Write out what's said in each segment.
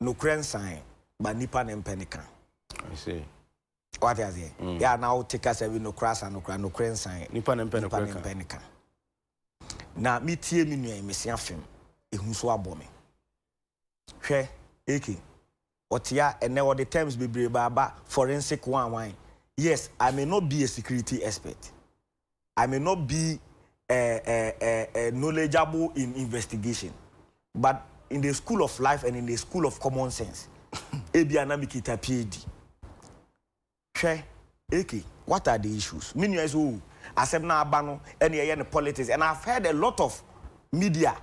nokorɛ nsan ba nipa ne mpɛ ne ka wate aseɛ mm. yɛ na wote kasa bi nokorɛ asa nokorɛ nokorɛ nsan nipa ne mpɛ ne ka na metie me nua yi mese afem ɛhu so abɔ me hwɛ eke Ɔtea ɛnɛ ɔde terms bebree ba aba forensic wan wan yes I may not be a security expert I may not be a a a a knowledgeable in investigation but in the school of life and in the school of common sense ebia na me kita PhD Hwɛ Eke what are the issues me nua yi sɛ oh asɛm no aba no ɛna yɛyɛ no politics and I've heard a lot of media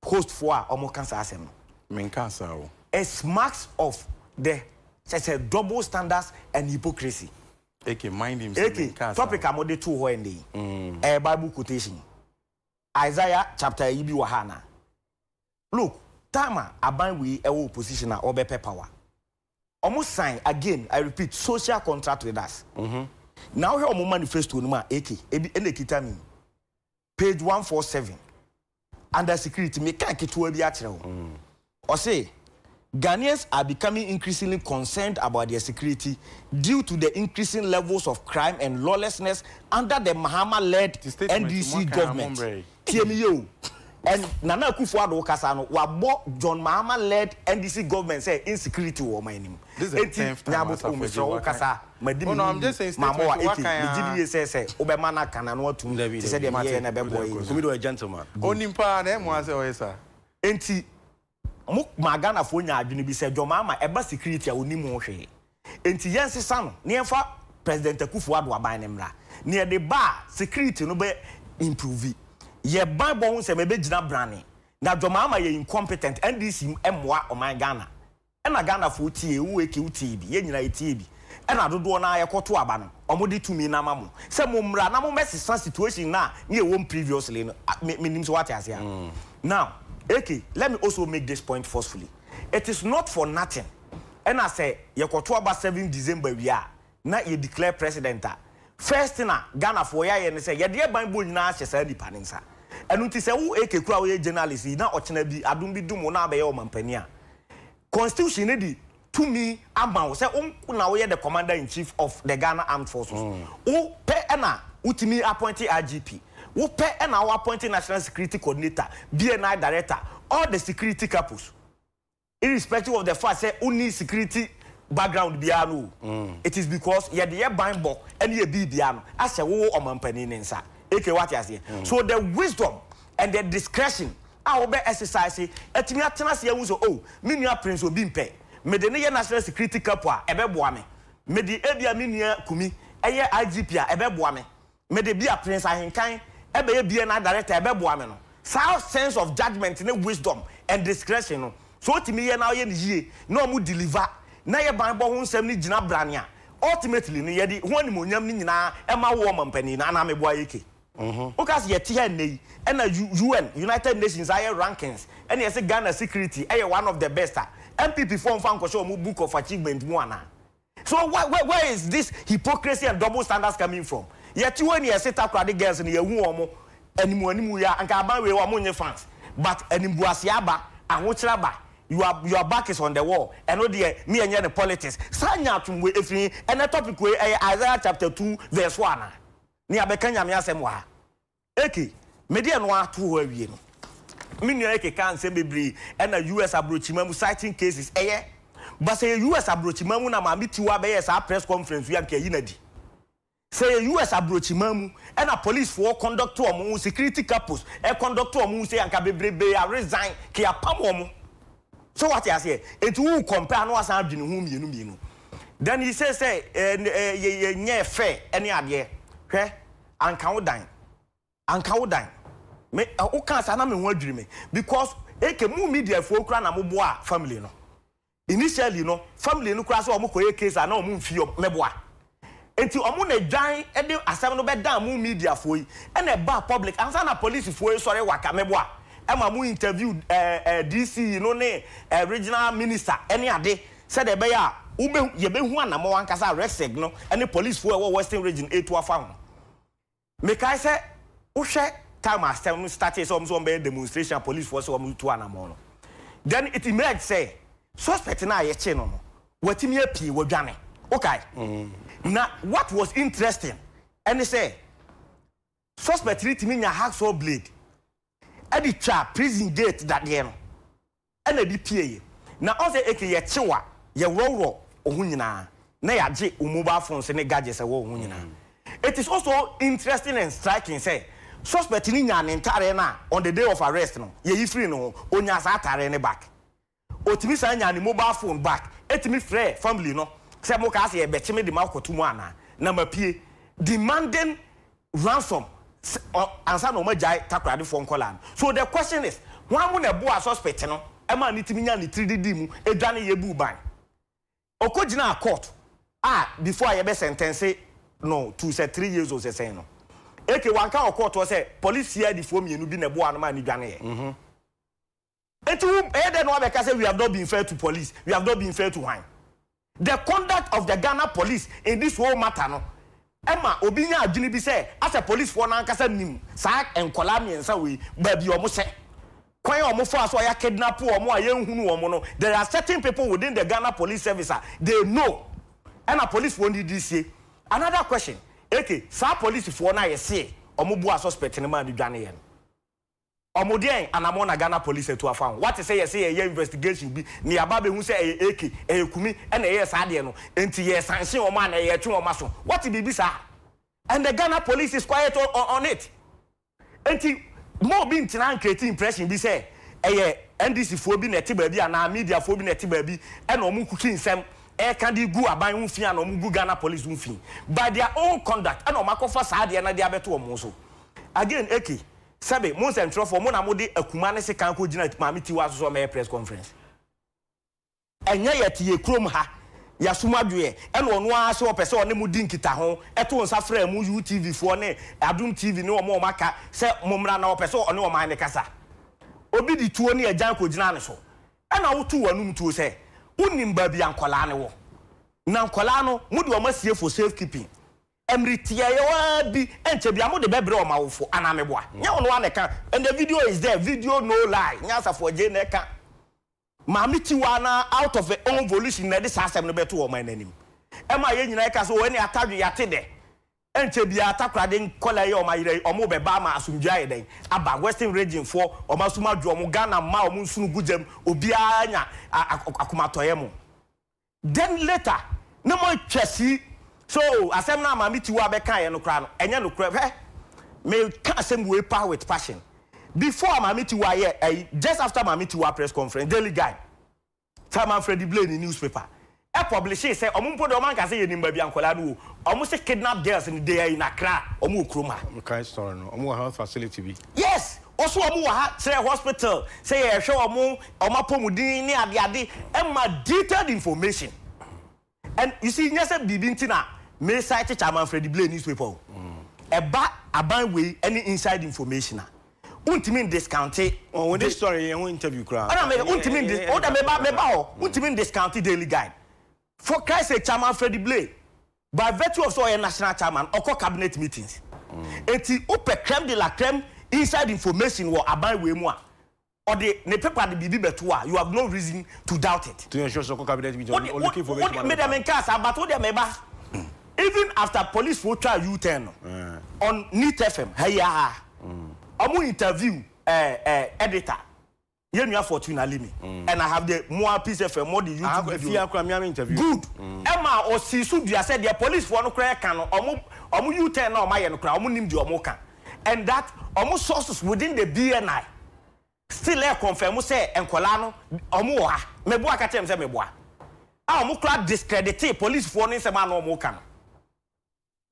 host foɔ a wɔn ka saa asɛm no. Me nkaa saa o. It smacks of the kyɛ sɛ double standards and hypocrisy. Eke mind him sɛ me nkaa saa o. Eke topic a mo de too hɔ ɛnɛ yi ɛyɛ bible quotation Isaiah chapter ayi bi wɔ ha anaa? Look time a aban wei ɛwɔ opposition a ɔbɛ pɛ power ɔmo sign again I repeat social contract with us na wohwɛ ɔmo manifesto no mu a AK ebi ɛna ɛkita me yi page one four seven under security me ka ketewa bi akyerɛ wo ɔse Ghanaians are becoming increasingly concerned about their security due to the increasing levels of crime and lawlessness under the Mahama led NDC government. Tie me yie o, ɛn Nana Akuffo Addo wo kasa no wa bɔ John Mahama led NDC government sɛ insecurity wɔ ɔman no mu. Enti nya abotrɔ o mesrɛ wo kasa ma di me ho yie ma mɔ wa eke me gye di yie sɛ sɛ wo bɛ ma no aka na ano atum te sɛ deɛ me yɛɛ no ɛbɛ boa yɛn yie. Onipa na ɛmoa sɛ ɔyɛ saa. Enti Mo maa Ghanafoɔ nyaa adwene bi sɛ Johmama ɛba security a ɔnim ho hwee. Enti yɛn sesa no na yɛn fa President Akuffo Addo aban no mmra. Nea ɛde ba a security no bɛ improve. Yɛ ban bɔ ho nsɛm ɛbɛ gyina brane. Na Johmama yɛ incompetent, NDC mmoa ɔman Ghana. Ɛna Ghanafoɔ tiee, wo Eke wo tiee bi, yɛn nyinaa yɛ tiee bi. ɛna dodoɔ no ara yɛkɔto aba no wɔde tumi no ama mo sɛ mo mmra na mo mmɛsesa situation no a na yɛwɔ mu previously no a me menim sɛ wate aseɛ a now AK let me also make this point forcefully it is not for nothing ɛna sɛ yɛkɔto aba seventh December wie a na yɛ declare president a first thing a Ghanafoɔ yɛ ayɛ ne sɛ yɛde yɛ banbɔ nyinaa ahyɛ saa nipa no nsa ɛno nti sɛ wo AK kura a woyɛ journalist yi na ɔkyena bi adom bi dom wo na wabɛyɛ ɔmampanin a constitution no de tumi ama wo sɛ wo nko na woyɛ the commander in chief of the Ghana armed forces. Wo pɛ na wotumi appoint IGP, wo pɛ na wo appoint national security coordinator, BNI director, all the security capos irrespective of the fact sɛ wonni security background biara no o. It is because yɛde yɛ banbɔ ne yɛ biribiara no ahyɛ wo wo ɔmampanin ne nsa. AK wate aseɛ? So the wisdom and the discretion a wobɛ ɛsesase atumi atena ase ahu sɛ oh, me nua Prince Obi mpɛ mede no yɛ National Security Capo a, ɛbɛboa me. Mede ebia me nua Kumi yɛ IGP a, ɛbɛboa me. Mede bia Prince Ahenkan bɛyɛ BNI Director a, ɛbɛboa me no. Saa sense of judgement ne wisdom and discretion no, sɛ ɔtumi yɛ na ɔyɛ no yie na ɔmo deliver na yɛ banbɔ ho nsɛm no gyina brane a, ultimately no yɛde ho animuonyam no nyinaa ma wo ɔmampanin no, anaa meboa Eke? Woka se yɛte ha nnɛ yi na UN, United Nations, ayɛ rankings na yɛse Ghana security yɛ one of the best a, NPP foɔ mfa nkɔhyɛ wɔn book of achievement mu anaa? So where is this hypocrisy and double standards coming from? Yɛte hɔ yi na yɛse Takoradi girls no yɛahu wɔn animu animu yi a, anka aban wei wɔn nnye fans but animguaseɛ aba, ahokyerɛ aba, your your back is on the wall, ɛno deɛ me ɛnyɛ no politics. Saa nyaatwom wei ɛfiri he? Ɛnnɛ topic wei ɛyɛ Isaiah chapter two verse four anaa? Nea bɛka Nyame asɛm wɔ ha. Eke, mede ɛno ara to hɔ awie no. Me nua Eke kaa nsɛm bebree ɛna US abrɔkyima mu citing cases ɛyɛ but sɛ ɛyɛ US abrɔkyima mu na maame tiwaa bɛyɛɛ saa press conference wei a nka yɛyi no adi. Sɛ ɛyɛ US abrɔkyima mu ɛna police foɔ conduct wɔn ho security couples ɛ conduct wɔn ho sei a nka bebrebee a resign ke apam wɔn. So wate aseɛ? Enti wo compare a na wasan adwene ho mmienu mmienu. Then he says sɛ ɛɛ ɛɛ yɛ yɛ nyɛɛ fair ɛne adeɛ. Hwɛ, anka wo dan. Anka wo dan. Me ɛ wo kaa saa na me ho adwiri me because eke mo media foɔ koraa na mo boa family no. Initially no family no koraa sɛ wɔn kɔ yɛ case a na wɔn mfi wɔn mɛboa. Enti wɔn na dwan de asɛm no bɛdaa mo media foɔ yi ɛna ɛbaa public ansa na police foɔ resɔre waka me boa ma mo interview DC yi no ne regional minister ne ade sɛdeɛ ɛbɛyɛ a wobɛ yɛbɛhu anamɔn ankasa a RECSEG no ne police foɔ a ɛwɔ western region retu afa ho. Mekae sɛ wohwɛ time a asɛm no startee sɛ wɔn nso wɔbɛyɛ demonstration a policefoɔ sɛ wɔretu anamɔn no, then it emerged sɛ suspect no a yɛkyee no no watumi apue, wadwane. Wokae? Na what was interesting ne sɛ suspect no tumi nya hacksaw blade de twaa prison gate dadeɛ no. na ɛde pieeɛ. Na ɔsɛ eke yɛkyew a, yɛworɔworɔ wo ho nyinaa na yɛagye wo mobile phones ne gadgets a ɛwɔ wo ho nyinaa. It is also interesting and striking sɛ, suspect no nyaa ne ntaareɛ no a on the day of arrest no, yɛyi firii ne ho, ɔnyaa saa ataareɛ no back. Ɔtumi san nyaa ne mobile phone back tumi frɛɛ family no sɛ mokaa sɛ yɛbɛkye me de makɔto mu anaa? Na mapue. Demanding ransom sɛ ɔ ansa na wɔagyae Takoradefoɔ nkwadaa no. So the question is, hwan mo na ɛboaa suspect no maa no tumi nyaa ne tiri de dii mu dwaneeɛ buu ban? Ɔkɔ gyinaa court a before a yɛbɛ sɛntɛnse no to sɛ three years ose sɛn no, eke wanka wɔ court hɔ sɛ police CID foɔ mmienu bi na ɛboaa no maa no dwaneeɛ. Enti wo bɛyɛ dɛn na woabɛka sɛ we have not been fair to police, we have not been fair to hwan? The conduct of the Ghana police in this whole matter no ɛma obi nya adwene bi sɛ asɛ policefoɔ no ankasa nim saa nkwadaa mmiɛnsa wei baabi a wɔhyɛ, kwan a wɔfaa so a wɔakidnapo wɔn a yɛnhunu wɔn no, there are certain people within the Ghana police service a they know ɛna policefoɔ no didi sie. Another question, okay, saa policefoɔ no a yɛse wɔboaa suspect no maa no dwaneeɛ no, Ɔmo deɛn anamon na Ghana police atu afa ho? Wate sɛ yɛse yɛyɛ investigation bi na yɛaba abɛhu sɛ ɛyɛ AK, ɛyɛ kumi ɛna ɛyɛɛ saa adeɛ no nti yɛ sanction ɔmo anaa yɛtwe ɔmo aso? Wate biribi saa? And the Ghana police is quiet on it nti mma obi ntena ncreate impression bi sɛ ɛyɛ NDC foɔ bi na ɛte baabi anaa media foɔ bi na ɛte baabi ɛna ɔmo kuki nsɛm ɛɛka de gu aban ho fi ana ɔmo gu Ghana police ho fi by their own conduct ɛna ɔmo akɔfa saa adeɛ no de abɛto ɔmo so again AK Sɛbe, mo nsɛntwerɛfoɔ, mo na mode akuma ne sekan kɔgyina Maame Tiwa so sɛ ɔmmɛyɛ press conference. Ɛnyɛ yɛte yɛn kurom ha, yɛasom adwoeɛ, ɛna ɔno ara sɛ ɔpɛ sɛ ɔne mo di nkitaho, to nsa frɛ mo UTV foɔ ne Adom TV ne wɔn a wɔaka sɛ mommra na ɔpɛ sɛ ɔne ɔman no kasa. Obi de tuo ne agyan kɔgyinaa ne so, ɛna wotoo w'anom tuo sɛ wonnim baabi a nkwadaa no wɔ. Na nkwadaa no, mode wɔn asie for safe keeping. Mmere tiaeɛ ara bi nkyɛ biara mode bɛbrɛ wɔn awofo anaa meboa? Nyɛ wo no ara na ɛka and the video is there video no lie Nyansafoɔ Adjei na ɛka Maame tiwaa no ara out of her own volition na ɛde saa asɛm no bɛto wɔn no anim ɛma yɛn nyinaa ɛka sɛ oh ɛne atadwe yɛate dɛ ɛnkyɛ biara takoradi nkwadaa yi a wɔn ayera yi wɔn rebɛba ama asomdwoeɛ ayɛ dɛn aba western region foɔ wɔn asom adwo wɔn Ghana mmaa wɔn nsono gu gya mu obiara anya akomatɔeɛ mo Then later na mo atwa si sɛ oh asɛm no a maame Tiwa bɛkaeɛ no koraa no ɛnyɛ nokorɛ. Hwɛ, meka asɛm wei paa with passion. Before a maame Tiwa yɛ ayi, just after maame Tiwa press conference, Daily Guide, Sir Manfredi Blay ne newspaper, ɛpublishee sɛ ɔmo mpo deɛ ɔmo anka sɛ yɛnim baabi a nkwadaa no wɔ. Ɔmo se kidnapped girls no they are in Accra, ɔmo wɔ kurom ha. Mekae story no, ɔmo wɔ health facility bi. Yes! Wɔ so wɔn wɔ ha kyerɛ hospital sɛ yɛhwɛ wɔn wɔn apɔmuden ne ade ade ɛma detailed information and you see nyɛ sɛ biribi nti na me cite Chairman Freddie Blay newspaper o ɛba aban wei ɛne inside information a wontumi n discounte Wɔn wɔn de story yɛn ho interview koraa. Ɛna me wontumi n dis woda meba meba hɔ wontumi n discounte Daily Guide For Christ sake Chairman Freddie Blay by virtue of sɛ ɔyɛ national chairman ɔkɔ cabinet meetings enti wopɛ creme de la creme inside information wɔ aban wei mu a ɔde ne paper de biribi bɛto a you have no reason to doubt it. To ensure sɛ ɔkɔ cabinet meeting ɔde ɔlooki information ma ne paa. Medeɛ menkaa saa but wodeɛ meba even after police foɔ twaa U turn no on Neat FM ha yi ara ɔmo interview ɛɛ ɛɛ editor. Yɛn nua Fortuna Limi ɛna ha deɛ mo a Peace FM mo de YouTube video. Ɛfia kura mi ami interview. Good ɛma ɔsi so dua sɛ deɛ police foɔ no kura ɛka no ɔmo ɔmo U turn na ɔmo ayɛ no kura ɔmo nim deɛ ɔmo ka and that ɔmo sources within the BNI still ɛɛ confirm sɛ nkɔlaa no ɔmo wɔ ha mɛboa ka kyerɛ mi sɛ mɛboa a ɔmo kura discredite police foɔ no nsɛm a na ɔmo ka no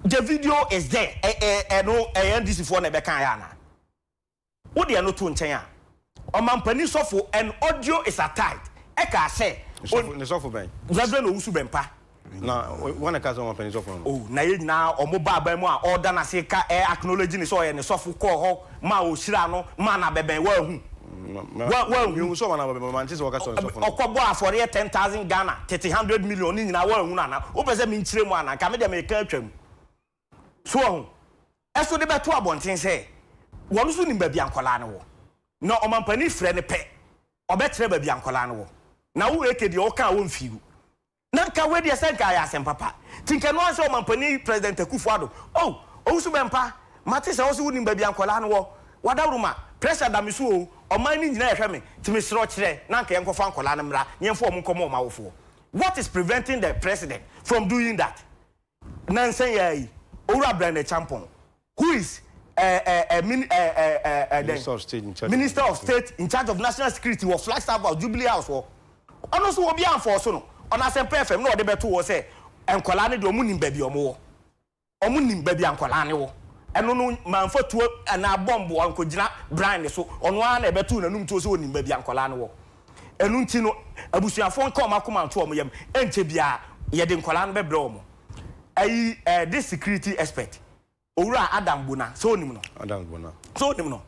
the video is there ɛɛ ɛɛ ɛno ɛɛ NDC foɔ na ɛbɛ kan yɛ ana. Wo deɛ no to nkyɛn a. Ɔmampanin sɔfo and audio is attached ɛkaa sɛ on. Ne sɔfo bɛn? Reverend Owusu Bɛmpa. Na wan na ɛkaa sɛ ɔmampanin sɔfo no no? Oh na yɛn nyinaa ɔmo baa aban mu a ɔɔda no ase ka ɛ acknowledge no sɛ ɔyɛ ne sɔfo kɔɔ hɔ maa ɔhyiraa no maa no abɛbɛn woanhu? Wa wanhu? Mehu sɛ ɔmaa no abɛbɛn but mante sɛ ɔka sɛ ɔyɛ sɔfo no. Ɔkɔ bɔɔ afɔreɛ ten thousand Ghana tete hundred million ne nyinaa woanhu no anaa? Wopɛ sɛ menkyerɛ mu anaa? Nka medeɛ meka atwam. So wɔn so de bɛto abɔnten sɛ wɔn nso nim baabi a nkwadaa no wɔ. Na ɔmampanin frɛ no pɛ, ɔbɛkyerɛ baabi a nkwadaa no wɔ. Na wo Eke deɛ ɔka a ɔmfii wo. Na nka wei deɛ sɛ nka ayɛ asɛm papa. Nti nka ɛno ara sɛ ɔmampanin President Akuffo Addo. Oh, Owusu Bɛmpa, mate sɛ wo nso wonim baabi a nkwadaa no wɔ. Wadawuruma, pressure da me so oo, ɔman no nyinaa rehwɛ me, nti mesrɛ wo kyerɛ na nka yɛnkɔfa nkwadaa no mmra na yɛmfa wɔn nkɔma wɔn awofoɔ. What is preventing the President from doing that? Nnansa yi ara yi, Owura Brian Acheampong, who is eh, eh, eh, min, eh, eh, eh, eh, dɛn? Minister of State in charge of Minister of National State in charge of National Security wɔ Flagstaff House, Jubilee House hɔ. Ɔno nso obiara amfɔɔso no. Ɔno Asɛmpa FM na ɔde bɛto hɔ sɛ nkwadaa no deɛ wɔnim baabi a wɔwɔ. Wɔnim baabi a nkwadaa no wɔ. Ɛno no, ma mfa tuo anaa bɔmbo nkɔgyina Brian so. Ɔno ara na ɛbɛtoo n'anom tuo sɛ ɔnim baabi a nkwadaa no wɔ. Ɛno nti no, abusuafoɔ nka wɔn akoma nto wɔn yam. Ɛnkyɛ biara, yɛde nkwadaa no bɛbrɛ wɔn. Ɛyi, ɛɛ, this security expert, Owura Adam Bona, sɛ wonim no? Adams Bona. Sɛ wonim no?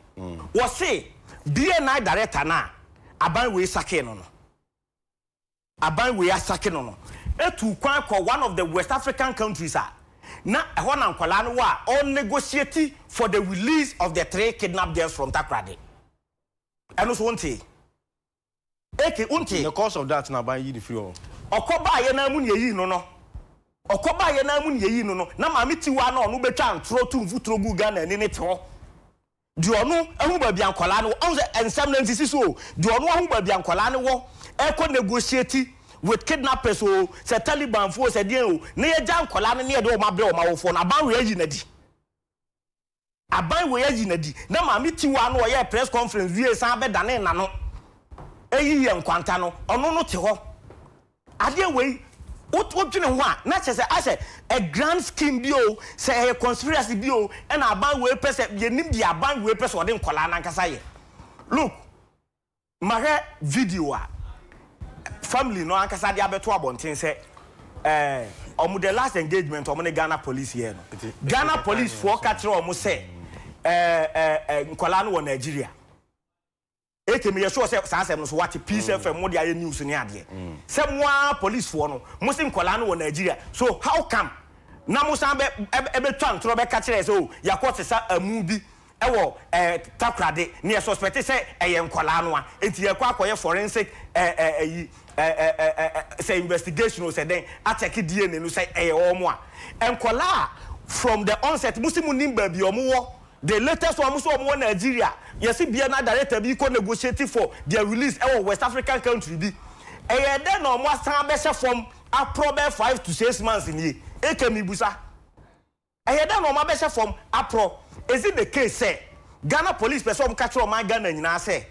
Wɔse BNI director no a aban wei sakee no no, aban wei asake no no, tuu kwan kɔɔ one of the West African countries a na ɛhɔ na nkwadaa no wɔ a ɔrenegotiate for the release of the three kidnapped girls from Takoradi. Ɛno nso wontee? Eke, wontee? In the course of that na aban yi no firi hɔ. Ɔkɔ baeɛ no ara mu na yɛyii no no. Ɔkɔ baeɛ no ara mu na yɛyii no no. Na maame tiwaa no a ɔno bɛtwaa ntorɔ tuu mfuturo guu Ghana ani no te hɔ. Deɛ ɔno ahu baabi a nkwadaa no wɔ, ɔhu sɛ nsɛm no nsisi so o, deɛ ɔno ahu baabi a nkwadaa no wɔ, ɛrekɔ negotiate with kidnappers o, sɛ Talibanfoɔ o, sɛ deɛn o, na yɛgya nkwadaa no na yɛde wɔn abrɛ wɔn awofoɔ no, aban wei ayi no adi. Aban wei ayi no adi na maame tiwaa no ɔyɛɛ press conference wiee san bɛdanee n'ano ɛyi yɛ nkwanta no ɔno no te hɔ adeɛ wei wo wo dwene ho a na kyɛ sɛ asɛ a grand scheme bi oo sɛ ɛyɛ conspiracy bi oo ɛna aban wei pɛ sɛ yɛnim deɛ aban wei pɛ sɛ ɔde nkwadaa no ankasa yɛ look Mahwɛ video a family no ankasa de abɛto abɔnten sɛ eh, wɔn the last engagement wɔn ne Ghana police yɛɛ no. Ghana police foɔ ka kyerɛ wɔn sɛ eh, eh, eh, nkwadaa no wɔ Nigeria. Eke meyɛ sure sɛ saa asɛm no so wate Peace FM mo de ayɛ news ne adeɛ. Sɛ mo ara police foɔ no mo se nkwadaa no wɔ Nigeria so how come na mo san bɛ ɛbɛtwa ntorɔ bɛka kyerɛ yɛ sɛ o yɛakɔ sesa amu bi wɔ eh, takorade na yɛ suspect sɛ ɛyɛ nkwadaa no a, enti yɛkɔ akɔyɛ forensic eh, eh, ayi, eh, eh, eh, eh, eh, sɛ investigation o, sɛ dɛn, akyɛke DNA no sɛ ɛyɛ wɔn a. Nkwadaa a from the onset mo se mo nim baabi a wɔn wɔ, the latest one mo se wɔn wɔ Nigeria, yɛse bia na director bi rekɔ negotiate for their release wɔ West African country bi. Ɛyɛɛ dɛn na wɔn asan abɛhyɛ fam aporɔ bɛyɛ five to six months nie? Eke mibusa. Ɛyɛ dɛn na wɔn abɛhyɛ fam aporɔ? Is it the case sɛ Ghana police pɛ sɛ wɔka kyerɛ ɔman Ghana nyinaa sɛ,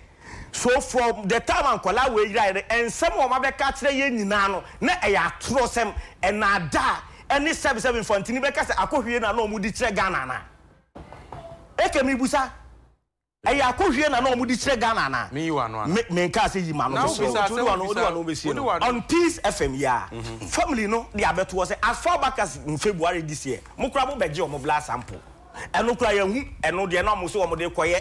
so from the time a nkwadaa wei yeraeɛ no, nsɛm a wɔabɛka akyerɛ yɛn nyinaa no, na ɛyɛ atorɔsɛm, nnaadaa, ɛne sɛbesɛbe mfantini bɛka sɛ akɔhwie na na wɔde kyerɛ Ghana anaa? Eke, Mebusa. Ɛyɛ akɔhwie na na ɔmo de kyerɛ Ghana anaa? Me yi w'ano anaa? Me me nkaa sɛ yi m'ano Now mesrɛ wo, bisa nti wode asɛm, w'ano wode bisa, w'ano bɛsie wode no? w'ano. On Peace FM yi ara, family no de abɛto hɔ sɛ as far back as in February this year, mo koraa mo bɛgye ɔmo blood sample. Ɛno koraa yɛanhu ɛno deɛ na ɔmo se ɔmo de kɔyɛ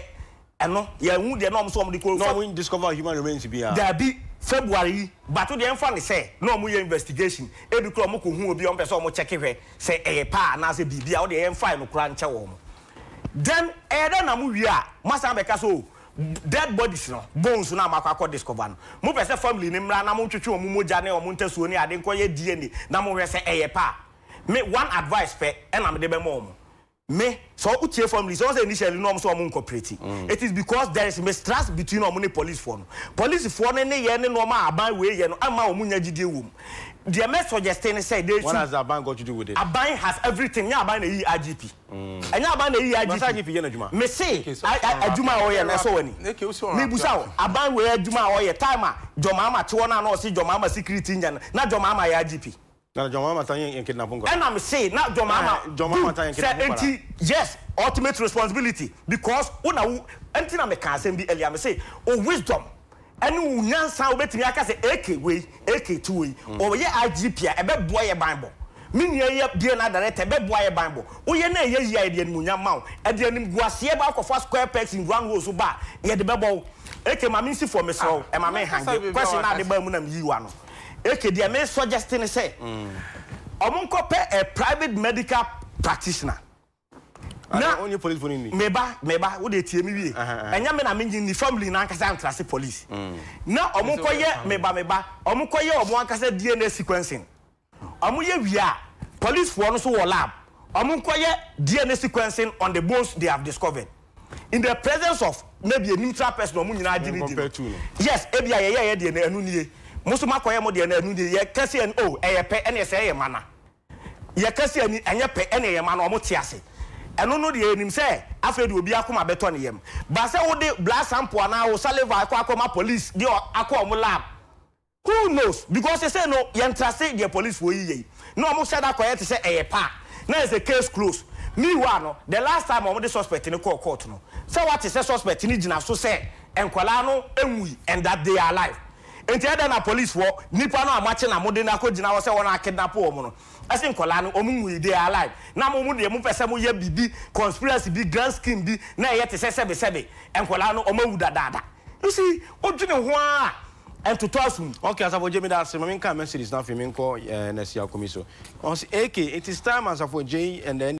ɛno, yɛanhu deɛ na ɔmo se ɔmo de kɔ Na ɔmo discover human remains biara? Daabi, February yi, but wo deɛ ɛmfa no sɛ na ɔmo yɛ investigation, ebi koraa ɔmo kɔ hu obi a ɔmo pɛ sɛ ɔmo check hwɛ sɛ ɛyɛ paa anaa sɛ biribi a, wo deɛ yɛmfae no koraa nkyɛ wɔn. Then ɛyɛ dɛn na mo wie a mo asan abɛka sɛ oh dead bodies no, bones no a mo akɔ akɔ discover no, mo pɛ sɛ family no mmra na mo ntwetwe wɔn mogya ne wɔn ntasuo ne ade nkɔ yɛ DNA na mo hwɛ sɛ ɛyɛ pɛ a. Me one advice pɛ ɛna mede bɛma wɔn. Me, sɛ wo tie family sɛ wɔn sɛ initially na wɔn sɛ wɔn nnkɔpreti, it is because there is mistrust between wɔn ne police foɔ no. Police foɔ no nneyɛɛ ne nnoɔma a aban wei yɛ no mma wɔn nnya gyidie wɔ mu. Deɛ mɛ suggeste ne sɛ they What should. has aban got to do with it? Aban has everything, nyɛ aban na ɛyii IGP. Ɛnyɛ aban na eyi yɛ IGP? Mese adwuma a ɔyɛ no ɛsɔ w'ani? Mebusa wo, aban wei adwuma a ɔyɛ, time a John Mahama te hɔ no a na ɔse John Mahama security nyɛ no, na John Mahama yɛ IGP? Ɛna mese na John Mahama good sɛ nti yes ultimate responsibility because wo na wo nti na mekaa asɛm bi earlier mese wo wisdom Ɛne wo nyansa a wobɛtumi aka sɛ AK wei, AK ti wei. Ɔyɛ IGP a, ɛbɛboa yɛ banbɔ. Me nua yi yɛ BNI Director, ɛbɛboa yɛ banbɔ. Woyɛ na ɛyɛ yie a, yɛde animuonyam ma wo. Ɛde animguaseɛ ba wokɔfa square pegs in round holes ba a, yɛde bɛbɔ wo. AK ma mensi fam, mesrɛ wo, ɛma me hange. Question no a de baa mu na meyii wo ano. AK, deɛ me suggest ne sɛ, wɔnkɔpɛ a private medical practitioner. Na me ba, me ba, wo deɛ tie me wie, ɛnyɛ me na me nyi ne family no ankasa antra ase police. Na wɔn kɔ yɛ, me ba, me ba, wɔn kɔ yɛ wɔn ankasa DNA sequencing. Wɔn yɛ wie a, police foɔ no nso wɔ lab, wɔn nkɔ yɛ DNA sequencing on the bones they have discovered in the presence of maybe a neutral person a wɔn nyinaa gye no di no. Yes, ebia yɛyɛɛ yɛn deɛ no, ɛno nie. Mo nso mo akɔ yɛ mo deɛ no, ɛno nie. Yɛka sɛ oh, ɛyɛ pɛ, ɛneɛ sɛɛ yɛ mana. Yɛka sɛ ani nyɛ pɛ na ɛma no wɔte ase. Ɛno no deɛ yɛnim sɛ afei deɛ obi akoma bɛtɔ ne yam. But sɛ wode blood sample anaa wo saliva kɔ akɔma police de akɔ wɔn lab, who knows because sesei no yɛnte ase deɛ policefoɔ yi yɛ yi. Na wɔn hyɛ da kɔyɛ te sɛ ɛyɛ paa na ayɛ sɛ case close. Meanwhile no the last time a wɔde suspect no kɔɔ court no, sɛ woate sɛ suspect no gyina so sɛ nkwadaa no nwui and that they are alive. Enti ɛdɛn na polisfoɔ, nipa no a moakye na mode no akɔgyina hɔ sɛ wɔn a kidnap wɔn no, se nkwadaa no wɔn nwui, they are alive, na mo mo deɛ mopɛ sɛ mo yɛ biribi, conspiracy bi, grand scheme bi na ɛyɛ te sɛ sɛbe sɛbe nkwadaa no wɔn awu dadaada. You see, wodwene ho ara a ɛntotɔ asom. Ok Asafo Gyei meda ase, ma me nka messages no afei me nkɔ eh Nurse Yakomi so. Ɔse, AK, it is time Asafo Gyei and the.